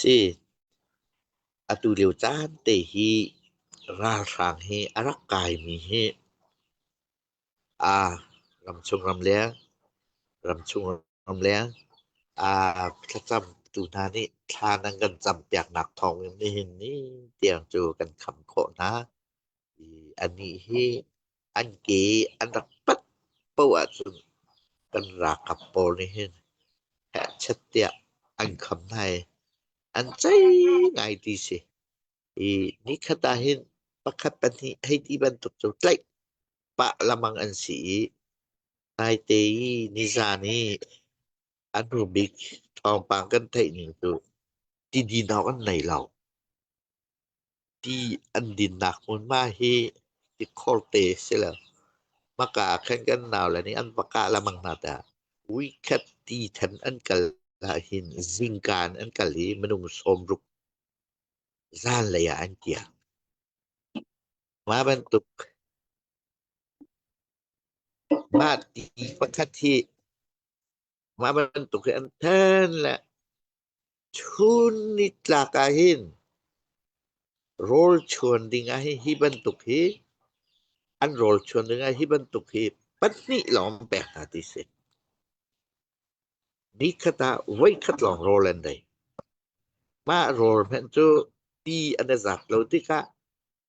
si. Atulio caan te hi ralhrang hi a rak kaimi hi aa ramchung ramleng ramchung ramleng aa thlacamtu hna nih thla nan kan campiaknak thawngin nihin ni tiang cu kan kham khawh hna. i anih hi an ke an rak pat paoh ahcun kan ralkap pawl nih hin herhchiat tiah an kham hna i an cei ngai ti si i nikhat ah hin pakhat pahnih hei ti bantuk cu tlaih pah lamang an si i naite i nizan i an rubik thawngpang kan theih ning cu tidinawg an nei lo Ti an dinnak hmunhma hi tikhor te si lo. Hmaka ah khan kan naule nih an va kah lengmang hna tah. Vuikhat ti than an kal ahhin zingka in an kal i minung sawmruk zanlei ah an kiak. Mah bantuk mah ti pakhat hi mah bantuk hi an then le Chun nitlak ahhin rawlchuan ding ah hi bantuk hi an rawlchuan ding ah hi bantuk hi pahnih lawng pek hna ti si. Nikhat ah voikhat lawng rawl an dei. Mah rawl hmanh cu ti an i zat lo tikah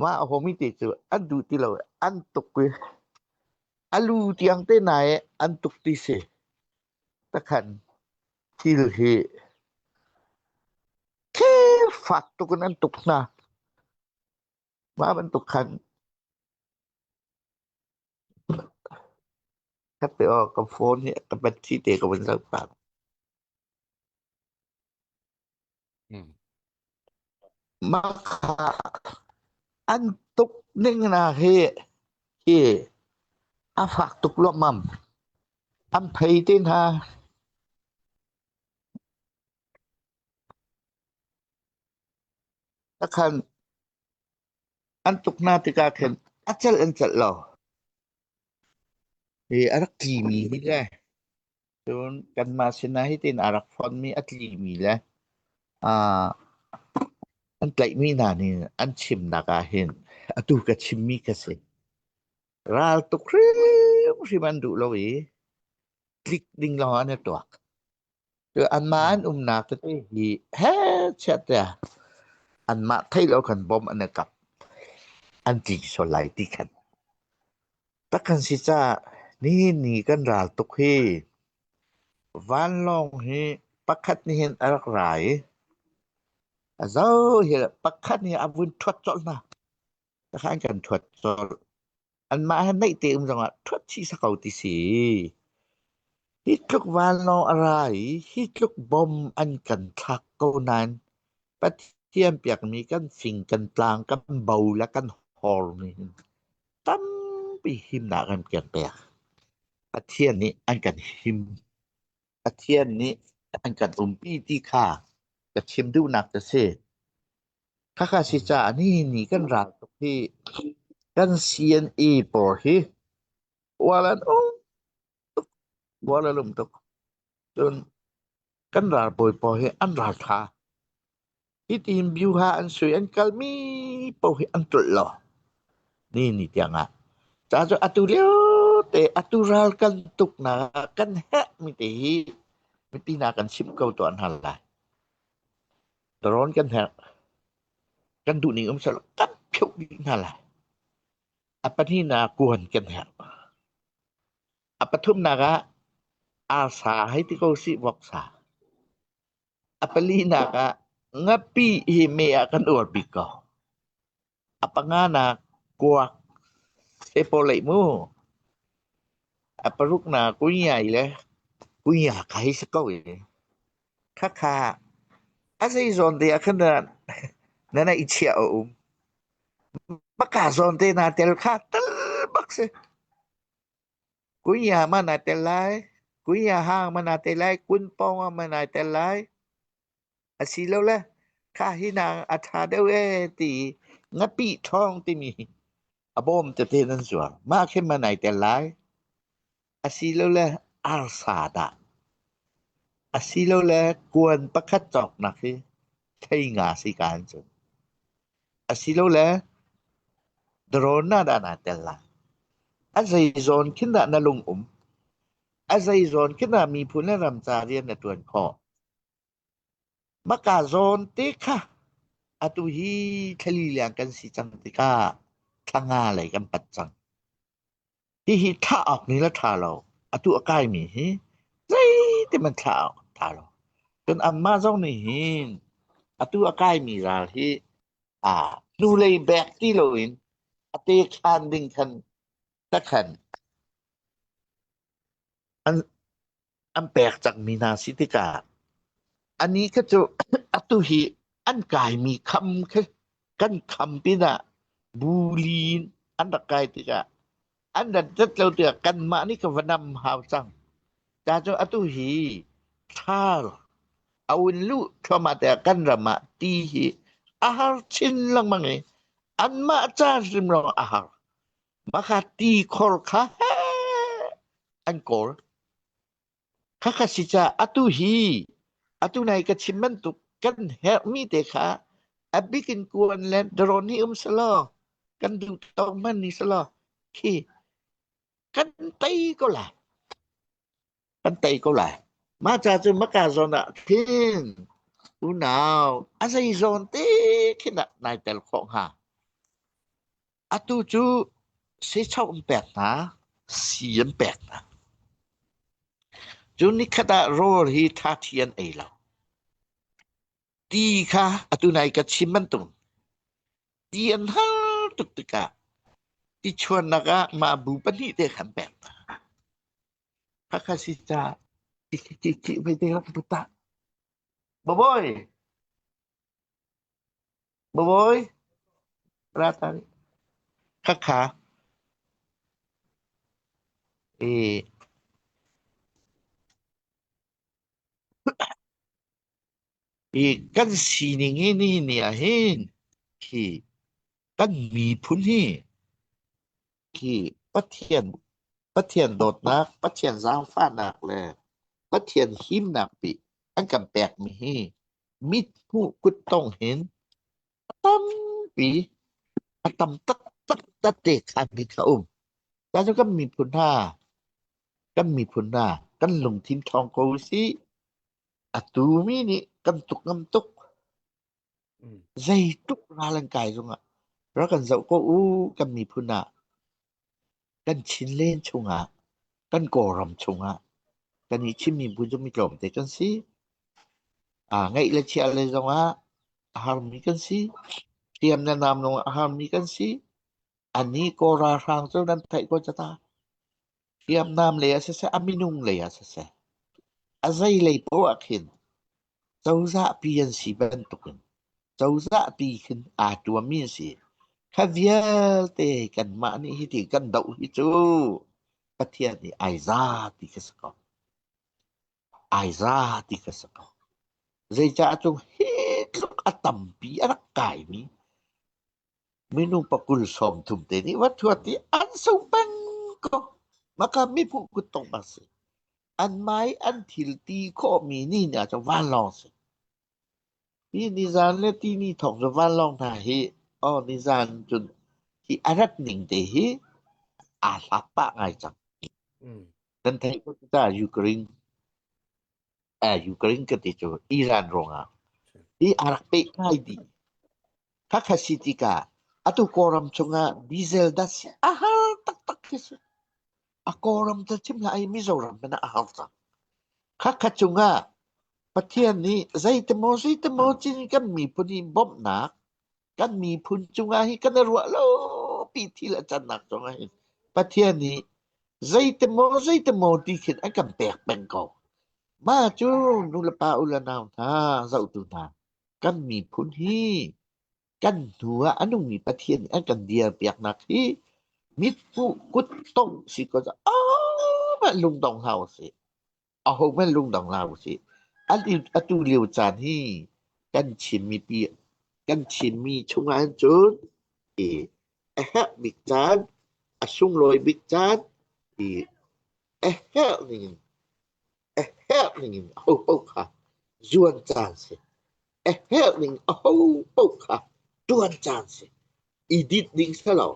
Mah a hawmi te cu an duh ti lo i an tuk i a lu tiang te na i an tuk ti si. Takhan thil hi khirfak tuk in an tuk hna. Mah bantuk khan ka pe aw ka phone hi ka battery te ka vun zoh pah. Mm. Mah an tuk ning na hi hi a fak tuk luammam. An phei te hna. Takhan an tuk na tikah khin a celh an celh lo. Hi a rak tlimi hi le cun kanmah sinah hitin a rak fonmi a tlimi le aa an tlaihmi hna nih an chimnak ahhin atu ka chimmi kha si. Raltuk hrimhrim an duh lo i tlik ding lawngah an i tuak. Cu anmah an umnak tete hi he chiat tiah anmah thei lo khan bom an i kap an tli sual lai ti khan tak kan si caah nihin ni kan ral tuk hi vanlawng hi pakhat nih hin a rak ra i a zo hi pakhat nih a vun thuat colh hna takhan kan thuat colh. Anmah he naih te um zongah thuat chih sa ko ti si. Hi tluk vanlawng a ra i, hi tluk bom an kan thlak ko nain, Pathian piakmi kan fing, kan tlang, kan bo le kan hormi hin tampi himnak an kan pek. Pathian nih an kan him. Pathian nih an kan umpi ti kha ka chim duhnak ka si. Khakha si caah nihinni kan ral tuk hi kan CNA pawl hi uar an um tuk, uar an um tuk. Cun kan ralbawi pawl hi an raltha. Hiti hin biuha an sui an kalmi paoh hi an tlolh lo nihinni tiangah. Ca cu atu liote atu ral kan tuknak ah kan herhmi te hi mipi hna kan chimh ko tuah hna lai. Darawn kan herh. Kan duhning um sehlaw kan pheuh dih hna lai. A pahnihnak kuan kan herh. A pathumnak ah arsa hei ti ko si voksa. A palinak ah ngapi hi me ah kan uar bik ko. A panga nak kuak he paw leih mu. A paruk nak kuiai le kuiak hei si ko ee. Khakha. A zeizawn te ah khan na na i chiah a um. Maka zawn te na tel kha tal bak si. Kuia ma na tel lai. Kuia hang ma na tel lai. Kun pong ma na tel lai. Asilole khah hi hna a ṭha deuh ee ti i ngapih ṭhawng timi a bawm tete nan zuang. Mah khi man ai tel lai. Asilole arsa dah. Asilole kuan pakhat cawk nak hi thei nga si ka an cun. Asilole drone na dah naa tel lai. A zei zawn khin dah na lung um. A zei zawn khin dah miphun le ram ca rian na ṭuan khawh. Maka zawn te kha atu hi thlali leng kan si cang tikah thlanga lei kan pat cang. Hihi thlah awk ni le tha lo, atu a kaimi hi zeiti hmanh thlah awk tha lo. Cun anmah zong nih hin atu a kaimi ral hi aa hnulei bek ti loin a te khan ding khan takhan an an pek cangmi hna si tikah a ni kha cu atu hi an kaimi kham khi kan kham pinah buli in an rak kai tikah an rat rat lo tikah kanmah nih ka va nam hau cang ta cu atu hi thar a un lu thluamah te kan ram ah ti hi a har chin lengmang i anmah ca hrim lawng a har Makati khor kha heh an kawl. Khakha si ca atu hi atu nai ka chim bantuk kan herhmi te kha a bik in kuan le darawn hi um selaw kan duhtawk hman ni selaw khi kan tei ko lai. Kan tei ko lai. Mah ca cu maka zawn ah thin unau a zei zawn te khin ah nai tel khawh hnga. Atu cu seicho an pek hna, sii an pek hna. Cu nikhat ah rawl hi thathi an ei lo. Ti kha atu nai ka chim bantuk ti an har tuk tikah ti chuannak ah mah bu pahnih te khan pek hna. Hakha si ca ti ki ki ki vai te rak bu ta. Baboi, Bawi, ra ta nih khakha i i kan sining i ni nih ahhin hi kan miphun hi khi Pathian Pathian dawtnak, Pathian zaangfahnak le Pathian himnak pi an kan pekmi hi mithmuh kuttong hin a tampi a tam taktak tate khanmi kha um. Cacu kan miphun hna, kan miphun hna, kan lungthin ṭhawng ko u sih. Atu mi nih kan tuk ngam tuk. Zeitluk ral an kai zongah rak kan zoh ko u kan miphun ah kan Chinland chungah kan Kawlram chungah kan i chimmi bu cu mi tlawmte kan si. Aa ngaih le chiah le zongah a harmi kan si. Hriam le nam lawngah a harmi kan si. A ni Kawl ralhrang cu nan theih ko ca ta. Hriamnam lei ah siseh, a minung lei ah siseh, a zeilei paoh ah khin cozahpi an si bantukin cozahpi khin aa tuammi an si. Kha vialte kanmah nih hi ti kan doh hi cu Pathian nih ai za ti ka si ko. Ai za ti ka si ko. Zeicaah cu hi tluk a tampi a rak kaimi Minung pa kul sawm thum te nih va thuat i an sung peng ko. Mahka miphun kuttong a si. An mai an thilti khawhmi ni ni ah cu vanlawng a si. Hi nizan le tini thawk cu vanlawng hna hi, aw nizan cun hi a rat ning te hi aa hlak pah ngai cang. Kan theih ko cu ta, Ukraine. uh, Ukraine ka ti cu Iran ruangah hi a rak peh ngai dih khakha si tikah atu kawlram chungah diesel das a har taktak khi si a kawlram ta chim la ai Mizoram pana a har tak khakha chungah Pathian nih zeitemaw zeitemaw cin kan miphun in bawmhnak kan miphun cungah hi kan i ruah lopi thil a cannak zongah hin Pathian nih zeitimaw zeitimaw ti khin an kan pek peng ko. Mah cu nulepa u le nau hna, zohtu hna, kan miphun hi kan hnu ah a nungmi Pathian nih an kan dirpiaknak hi mit hmuh kut tongh si ko ah lungdong hau si. Ahohmanh lungdong hna usih. Atu lio caan hi kan Chinmipi kan Chinmi chungah hin cun i a herh bik caan, a sunglawi bik caan i a herh ning in, a herh ning in ahopaoh kha zuan caan a si. a herh ning ahopaoh kha ṭuan caan si i dit ding si lo.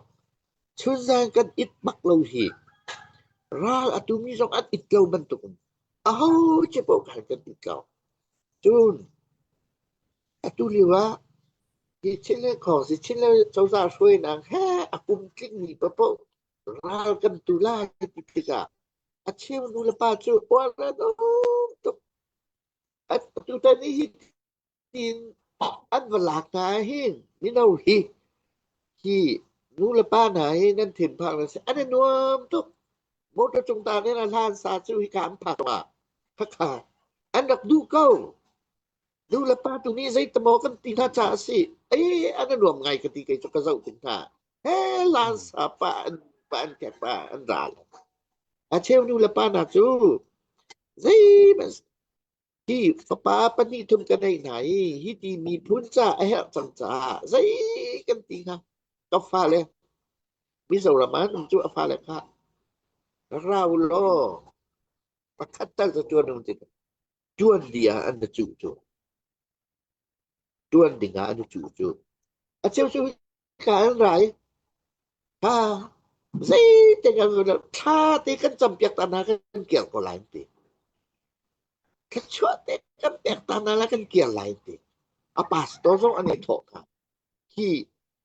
Chunzang kan it bak lo hi ral a tumi zong an it ko bantuk in aho cu paoh khan kan it ko. Cun atu lio ah hi Chinle khawng si Chinle cozah hruainak he a kum tlingmi pa paoh ral kan tu lai ti tikah a cheu nu le pa cu uar an um tuk. tutan i hi tin an va lak hna hin mino hi hi nu le pa hna hi nan thinphang na si an i nuam tuk motor cung ta ne na hlan sa cu hi ka an phak ma khakha an rak duh ko nu le pa tu nih zei tamaw kan ti hna ca a si ai an i nuam ngai ka ti kei cu ka zoh tung hna Lan sa pa an pa an ke pa an ra lo. A cheu nu le pa hna cu zeihmanh hi fapa pahnih thum kan ei hna i hi ti miphun ca a herh cang caah zei kan ti hnga ka fale Mizoram ah um cu a fale kha ra u law pakhat tal ca tuan um ti tuan di ah an na cuh cu ṭuan dingah an i cuhcuh. A cheu cu hika an ra i, ha, zeitik an ṭha ti kan campiak ta hna kan kiar ko lai, an ti. Thluachuah te kan pek ta hna la kan kiar lai, an ti. A pastor zong an i thawh hna. Hi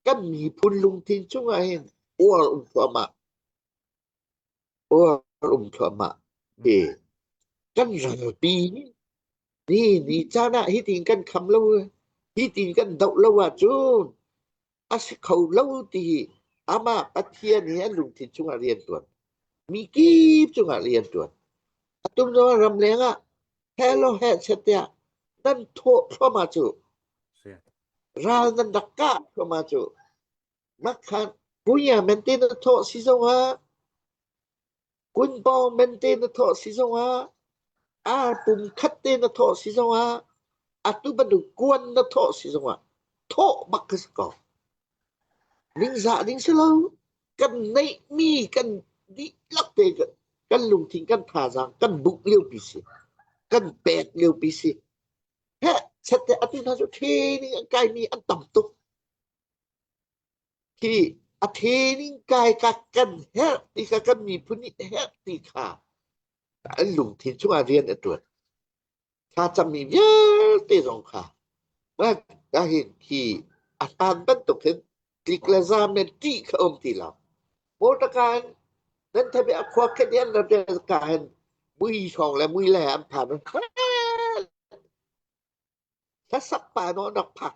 kan miphun lungthin chungah hin uar um thluahmah. Uar um thluahmah ve. Kan ralpi ni ni caan ah hi tin kan kham lo, hi tin kan doh lo ahcun a si kho lo ti hi amah Pathian hi an lungthin chungah rian ṭuan. Mi kip cungah rian ṭuan. Atum zongah ram lengah helo he setiah nan thawh thluahmah cu ral nan rak kah thluahmah cu Makhat kuya men te na thawh si zongah kunpawng men te na thawh si zongah arpum khat te na thawh si zongah atu bantuk kuan na thawh si zongah thawh bak ka si ko ningzah ding si lo kan neihmi kan dihlak te kan, kan lungthin kan thazaang kan buk lio pi si kan pek lio pi si he sette atin ha cu training an kai mi an tam tuk Hi a the ning kai ka kan herh ti kha kan miphun nih herh ti kha an lungthin chungah rian a ṭuan. Thlacammi vialte zong kha mah hin hi a hlan bantuk hin tlik le za men ṭih kha um ti lo. Mortakan nan thabe a khua khat yan la ka hen mui hrawng le mui le an phan hla sak pa no nok phak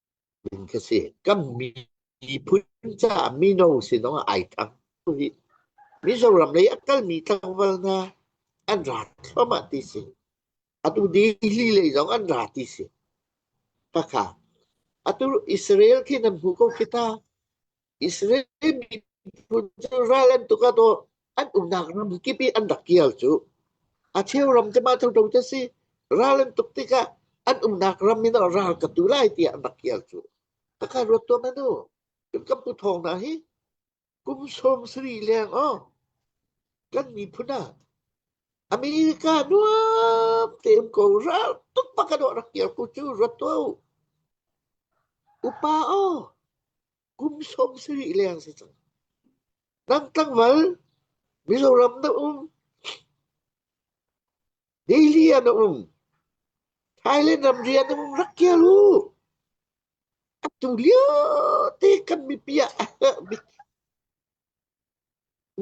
ding khi a si. Kan miphun caah mino sinawng ah ai thang rih. Mizoram lei a kalmi tlangval hna an ra thluahmah ti si. Atu Delhi lei zong an ra ti si. Pakha. Atu Israel khi nan hmu ko khi ta. Israel miphun cu ral an tuk ah to an umnak ram kip i an rak kial cu a cheu ram cu mah thoto cu si ral an tuk tikah an umnak ram in ral ka tu lai tiah an rak kial cu ka ka ruat tuam anu kan pu thong na hi kum song sri leng o kan miphun a America nuam te um ko ral tuk pa ka do rak kial ku cu ruat tu upa o kum sawm sarih leng si cang. Nang tangmal Mizoram na um. Delhi ah na um. Thailand ram rian na um rak kia lu. Tung lio te kan mi pia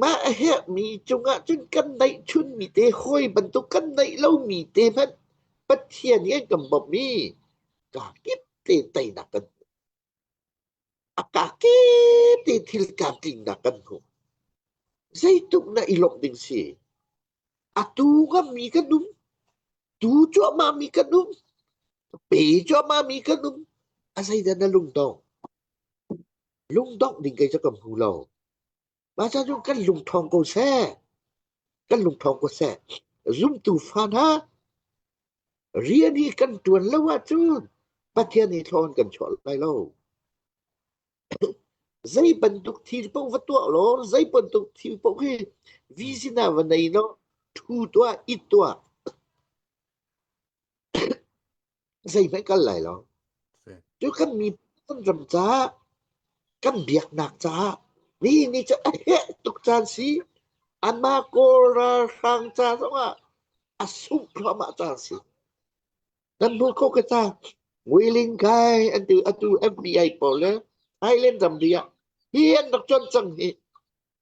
mah he mi cungah cun kan naih chun mi te hoi bantuk kan naih lo mi te hmanh Pathian hi an kan bawmh mi ka kip te teinak kan A ka kip i thil tlamtlingnak kan hmu. Zeitluk na i lawmh ding si. Atu ngami kan um. Tu cuahmahmi kan um. Pe cuahmahmi kan um. A zeidah na lungdong? Lungdong ding kei cu kan hmu lo. Mah ca cu kan lung thawng ko seh. Kan lung thawng ko seh. Zumtu fa hna, rian hi kan tuan lo ahcun Pathian i thlawn kan chuah lai lo. zei bantuk thil paoh va tuah law zei bantuk thil paoh hi vi sinah va nei law thu tuah it tuah zeihmanh kal lai lo. Cu kan mi kan ram caah kan biaknak caah mi ni cu a heh tuk caan si ama kawl ralhrang ca zongah a sungh thluahmah caan si nan hmu ko ka ta Willing kai an tu atu FBI pawl le Thailand ramri ah hi an rak con cang hi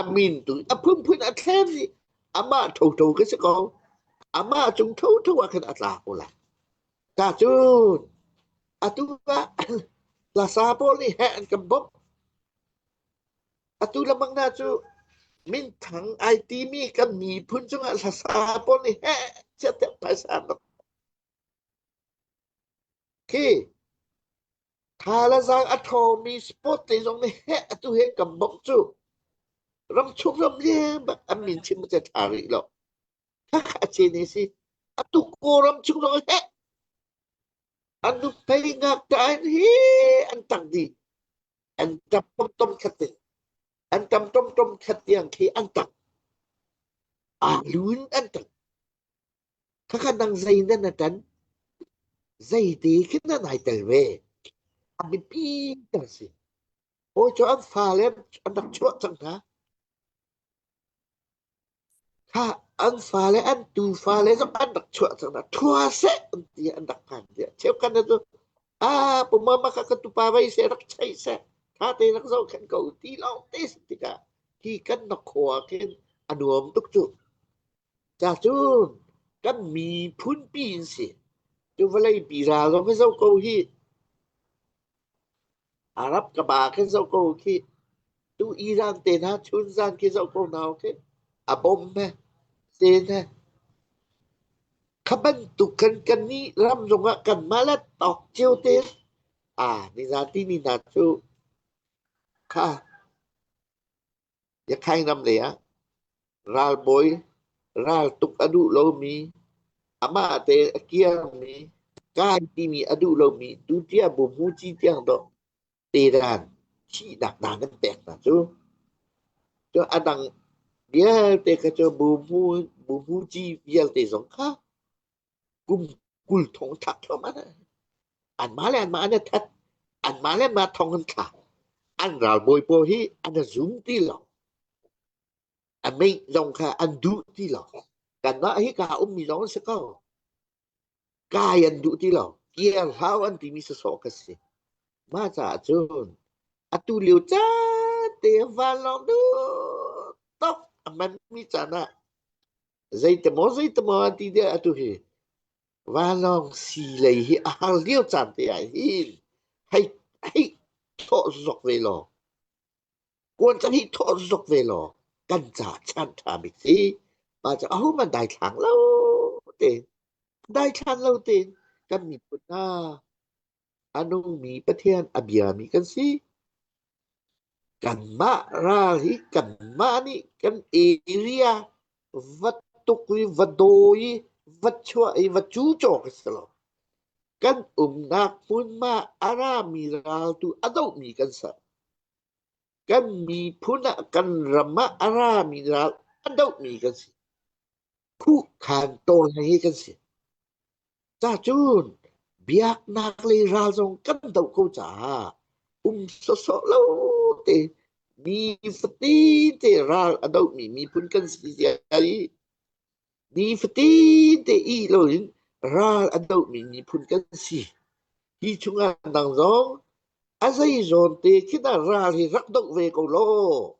a min tu a phunphun a thlem i amah thotho ka si ko amah cung thotho ah khan a tla ko lai ta cu atu ah hlasa pawl nih heh an kan bawmh atu lamang hna cu minthang ai timi kan miphun cungah hlasa pawl nih heh siatek phaisa nok khi Tha le zaang a thomi sport te zong nih heh atu hin kan bawmh cu ramchung ram lian bak an min chim te tha rih lo. Khakha a chin hi si. Atu Kawlram chung zong heh an nu pei ngak tain hi an tang dih. An tap tom tom khat te. An tam tom tom khat tiang khi an tang. A lun an tang. Khakha dang zei nan na tan zeiti khin nan ai tel ve a biapi ter si ho cu an fale an rak chuah cang hna kha an fale an tu fale zong an rak chuah cang hna thua se an ti an rak han dia cheu kan na a pu mama ka ka tu pa vai se rak chai se tha te rak zo khen ko ti lo te tikah hi kan na khua khin a nuam tuk chu Ca cu kan miphunpi in si. Cu vawleipi hna zong hi zoh ko hih. Arab ka pa khin zoh ko khi. Tu Iran te hna chun zan khi zoh ko hna khi. A bom he, sen he. Khabantuk kan kannih ram zong ah kan malet tawk cio te. Ah, ni zati ni hna cu. Kha. Yakhaing ram lengah ralbawi raltuk a duh lomi, amah tein a kiangmi, kai timi a duh lomi tutiang Bumhu Ci tiang dawh tedan thihnak dang kan pek hna cu. Cu a dang vialte kha cu Bumhu Bumhu Ci vialte zong kha kum kul thong thak thluamah an mah le an mah an that an mah le mah thong an thla an ralbawi pawl hi an zum ti lo an mei lawng kha an duh ti lo kan mah hi ka um mi lawng si ko kai an duh ti lo kiar hau an ti mi so ka si ma cha cun atu liu cha te van long du tok aman mi chana Zeitimaw zeitimaw ti deh atu hi vanlawng si lei hi a har lio caan te ah hin hei hei thawh zok ve law kuan cang hi thawh zok ve law kan ca chan ṭha bik si pa cu aho man daithlang lo te daithlan lo tein kan miphun hna a nungmi Pathian a biami kan si. Kanmah ral hi kanmah nih kan area va tuk i va daw i va chuah i va cu cawk a si lo. Kan umnak hmunma a rami ral tu a dohmi kan ser. Kan miphun ah kan ram ah a rami ral a dohmi kan si. Khuhkhan tawlreng hi kan si. Cacun biaknak lei ral zong kan doh ko caah um sawsawh lo te mi fatin te ral a dohmi miphun kan si zia i ni fatin te i lo in ral a dohmi miphun kan si. Hi chungah nang zong a zei zawn te khi dah ral hi rak doh ve ko law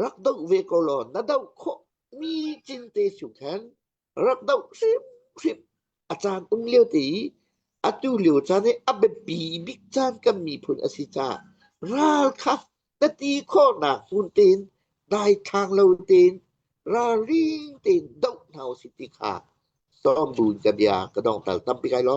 rak doh ve ko law na doh khawh mi cin te su khan rak doh hrim hrim a caan um lio te i atu lio caan i a biapi bik caan kan miphun a si caah ral kha na ti khawhnak hmun tein dai thang lo tein ralring tein doh hna u si ti kha sawm buin ka bia ka dong tal tampi kai lo.